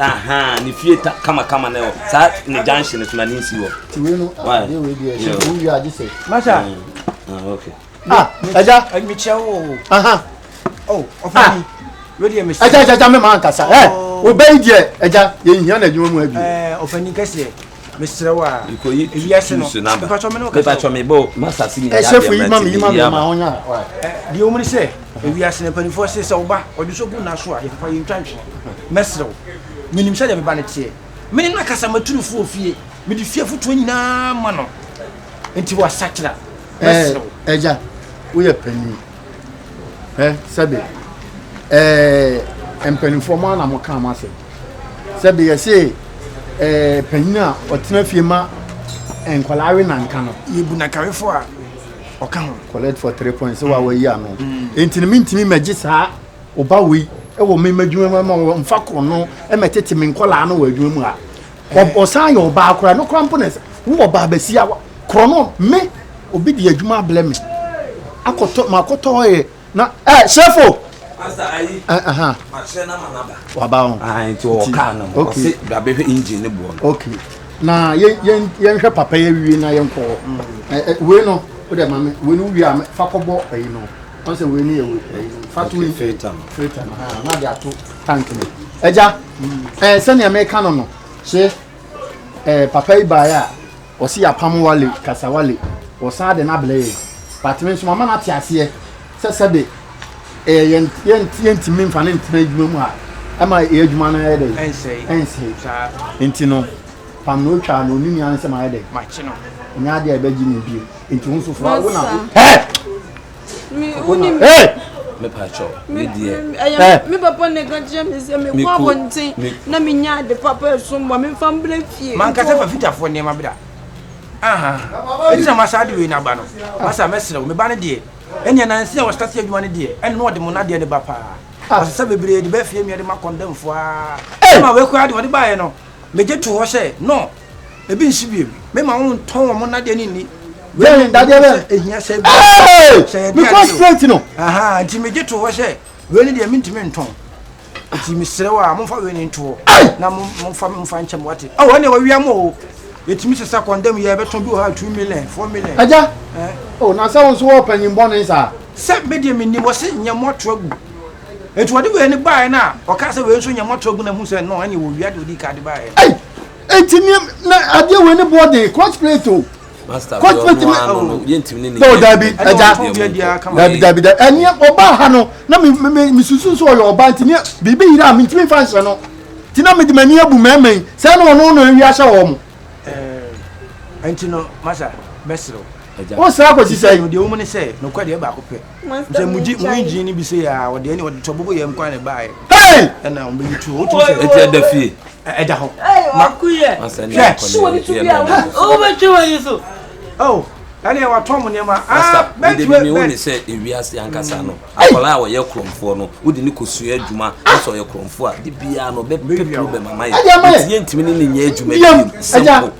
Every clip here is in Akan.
ahan ne fie ta kamakama na ɛwɔ saa ne junction no so na ne nsi wɔ. ti wei no adeɛ wei deɛ ɛhyɛ wo wia agye sɛ. masa. ah ɛja. mekyia wo o. ahan. o ɔfɔ mi wei deɛ mesi. ɛja ɛja ɛja mi maa nkasa ɛ o bɛyi deɛ ɛja yɛn hia na adwuma mu abi. ɛɛ ɔfɔ ni kɛseɛ. mesrɛ wo a ewiase no mepatwɔ me ne wo kasa mepatwɔ me bo masase mi yɛ adeɛ mɛte yie ama deɛ wɔn mu ne sɛ ewiase no mpanimfoɔ se sɛ ɔba ɔde so gu n'aso a yɛpapa yɛn twa nhwene mɛsrɛ wo menim sɛ deɛ meba no teɛ me ne no akasa maturu fo ofie mede fie fotoɔ nyinaa ma no nti wasakyera mɛsrɛ wo ɛgya woyɛ panyin ɛ sɛbe ɛɛ mpanimfoɔ mo ana mo kaa mo asɛm sɛbe yɛse ɛɛ panyin a ɔtena fie ma nkwadaa we nanka no yɛbu nakawefoɔ a ɔka ho collect for three points wa wayi ano mm. nti no mentumi mɛgye saa ɔba wei ɛwɔ me m'adwuma mu ama wɔmfa kɔ no ɛmɛtete me nkwadaa no wɔ adwuma mu a Ɔsan yɛ ɔbaa koraa no koraa mpo na ɛsɛ wo ɔbaa basia wa korɔ no me obi di adwuma ablɛ me akɔtɔ ma akɔtɔ yɛ na ɛ sɛfo. Pastor ayi. Ɛhɛn. Makyerɛ na ma naba. Waba ho. Ah nti wɔ car no ho. Ɔse dabe hwɛ engine ne boɔ no. Okay. Na yɛ yɛ yɛnhwɛ papa yɛ wie na yɛnkɔ hɔ. Ɛ ɛ wei no wodɛ ma me wei no wie a fa kɔbɔ ayi no. Ɔsɛ wei ni ewe ɛyi no fatu yi filter no filter no haa na de ato tank no ɛgya ɛɛ sɛnea meka no no hye ɛɛ papa yi baayɛ a ɔsi yapam wale kasa wale ɔsan de n'abelɛ yɛ batumi nso mama n'ate aseɛ sɛ sɛbe ɛɛ yɛn yɛn yɛntumi nfa ne ntena adwuma mu a ɛma ɛyɛ adwuma no ayɛ dɛ ɛnsɛe ɛnsɛe saa nti no pam na otwa na onini ansɛm ayɛ dɛ makye no nyɛ adeɛ a ɛbɛgye ne bio. nti wo nso fra wo na mepatwɔ me deɛ me papa ne ka kyerɛ me sɛ mekɔ abɔnten na menya ade papa ɛsom bɔ memfa mbrɛ fie mankasa fa fitafoɔ nneɛma bra ɛti na masa ade wei no aba no masa mɛserɛ wo meba no deɛ ɛneɛ nansi a wɔstate adwuma no deɛ ɛne na ɔde mo nadeɛ ne ba paa ɔsesa bebree de bɛfie mmiɛ de ma kɔndɛmfoɔ a ma wei koraa de ɔde baeɛ no megye to hɔ sɛ no ebi nsi bi ebi mema wɔn ntɔn wɔn nadeɛ ne nni wei nadeɛ bɛ ehia sɛ ebi sɛ yɛ deɛ adeɛ straight no aha nti mi gye to hɔ sɛ wei ne deɛ mi ntumi ntɔn nti mi srɛ wa mo nfa wei ne ntoɔ na mo mo nfa mo nfa nkyɛn mo wate ɔwɔ ɛna wɔ wia mo o yɛtumi sesa kɔndɛm yɛ bɛtɔn bi wɔ ha two million four million. agya o na sɛ wo nso wɔ panyin bɔne saa. sɛ me deɛ menim wɔ se nyɛ mo ato agu Enti wɔde wei ne baeɛ no a, ɔkaa sɛ wei nso nyɛ mmɔtorɔ gu na hu sɛ no ɛne wɔwia deɛ ɔdi ka de baeɛ no. Enti ne na adeɛ wei ne boɔ den crossplate o. Crossplate ma o. Dɔw dabi ɛgya dabi dabi dabi ɛneɛ ɔbaa ha no na mi mi mi susu nso ɔyɛ ɔbaa nti neɛ biribi yira a mi ntumi nfa nhyɛ no ti na mi de m'ani abu mɛɛma yi sɛ ɛna ɔno na ewia hyɛ wɔn. Enti no masa bɛsrɛ o. Wosrɛ akɔsi sɛ. Deɛ wɔn mu ne sɛ nokɔ deɛ baako pɛ. sɛ mugye mu engine no bi sɛ yɛ a wɔde ɛne wɔde tɔ bɔbɔ yɛ nkwa na ɛbaeɛ ɛna wɔbɛyi tuo wotum sɛ ɛti ɛda fie ɛda hɔ makuyɛ hwɛ wobɛtwe w'ani so oh ɛne watɔ mo nneɛma bɛtumi ne sɛ ewiase ankasa no akwadaa a wɔyɛ korɔmfoɔ no wode ne kɔsua adwuma asɛ ɔyɛ korɔmfoɔ a de biara no ɔbɛpɛ problem ama yɛ yɛntumi ne ne nyɛ adwuma biom simple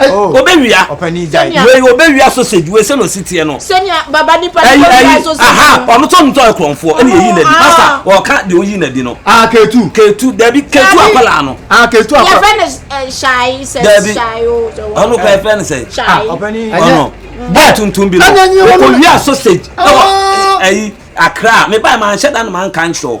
Oh, obewia wei obewia sausage wei sɛ na osi teɛ no aha ɔno tɔ no tɔ ɛkorɔnfoɔ ɛna eyi na di pasta ɔka de oyi na di no ah, ketu ketu dabi ketu akwadaa no ah, ketu akwadaa dabi ɔno kɔ ɛfɛ ne sɛ ɔno bɔɔ tuntum bi no owia sausage ɛwɔ ɛyi akra meba ma nhyɛ da no ma nka nkyerɛw.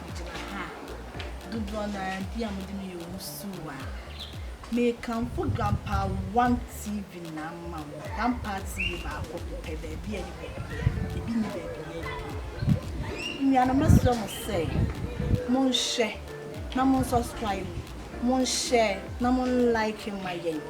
Megyina ha a, dodoɔ no ara bi a mode me yɛ wusiw a, mekamfo Grandpa One TV na ama mo. Grandpa TV baako pɛ, baabi a ɛne baabi yɛ no, ebi nni baabi yɛ bio. Nnuanom mɛsrɛ mo sɛ, monhwɛ na mo subscribe, monhyɛ na mo like ma yɛn.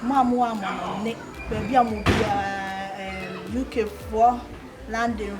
Mo a mowɔ amanɔne, baabi a mo biara, UK foɔ, London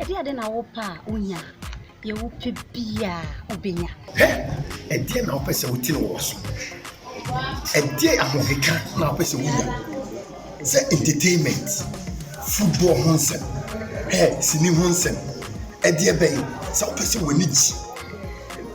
Ɛdeɛn de na wopɛ a wonya? Deɛ wopɛ biara wobɛnya. Hɛ! Ɛdeɛn na wopɛ sɛ wote no wɔ w'asom? Ɛdeɛn ahokeka na wopɛ sɛ wonya? Sɛ entertainment, football ho nsɛm, hɛ, sini ho nsɛm, ɛdeɛ bɛn? Sɛ wopɛ sɛ w'ani gye.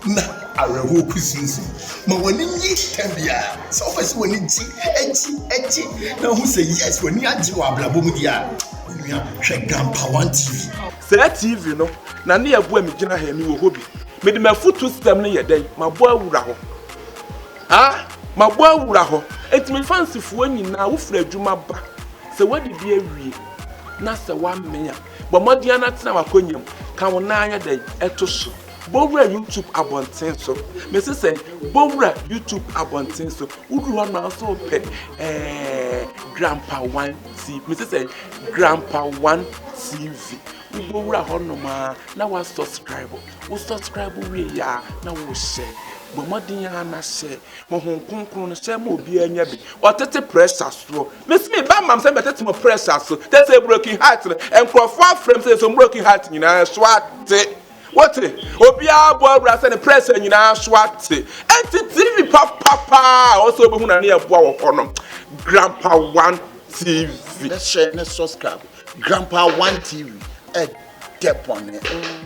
na awerɛhoɔ kusinsin. Ma w'ani nye tɛm biara. Sɛ wopɛ sɛ w'ani gye, gye, gye na wohu sɛ yes w'ani agye wɔ abrabɔ mu deɛ a, onua hwɛ Gampa One TV. Saa TV no na ne ɛboa me gyina ha yi, mewɔ hɔ bi. Mede m'afutuo system no yɛ dɛn? Mabɔ awura hɔ. Ah! Mabɔ awura hɔ. Enti me fansifoɔ nyinaa, wofiri adwuma ba, sɛ woadidi awie na sɛ woamee a, bɔ mmɔden ara na tena w'akonnwa mu, ka wo nan ayɛ dɛn? To so. Bɔwura YouTube abɔnten so. Mese sɛ bɔwura YouTube abɔnten so. Woduru hɔ na nso pɛ ɛɛ Grandpa One TV. Mese sɛ Grandpa One TV. Wobɛwura hɔ nom a na wa subscribe. Wo subscribe wie yɛ a na wo hyɛ. Bɔ mmɔden a na hyɛ. Honhom kronkron no hyɛ ma obiara nya bi. Ɔtete pressure soɔ. Mese me ba mam sɛ mɛtete mo pressure so. Tete broken heart no nkurɔfoɔ afrɛ m sɛ nso broken heart nyinaa so ate. Wote? Obiara bɔ awura sɛ ne prɛsɛ nyinaa so ate. Enti TV papa paa a ɔsɛ obehu na ne yɛ boa wɔ hɔ no. Grandpa One TV. Ne hyɛ ne subscribe. Grandpa One TV. Ɛdɛ bɔne.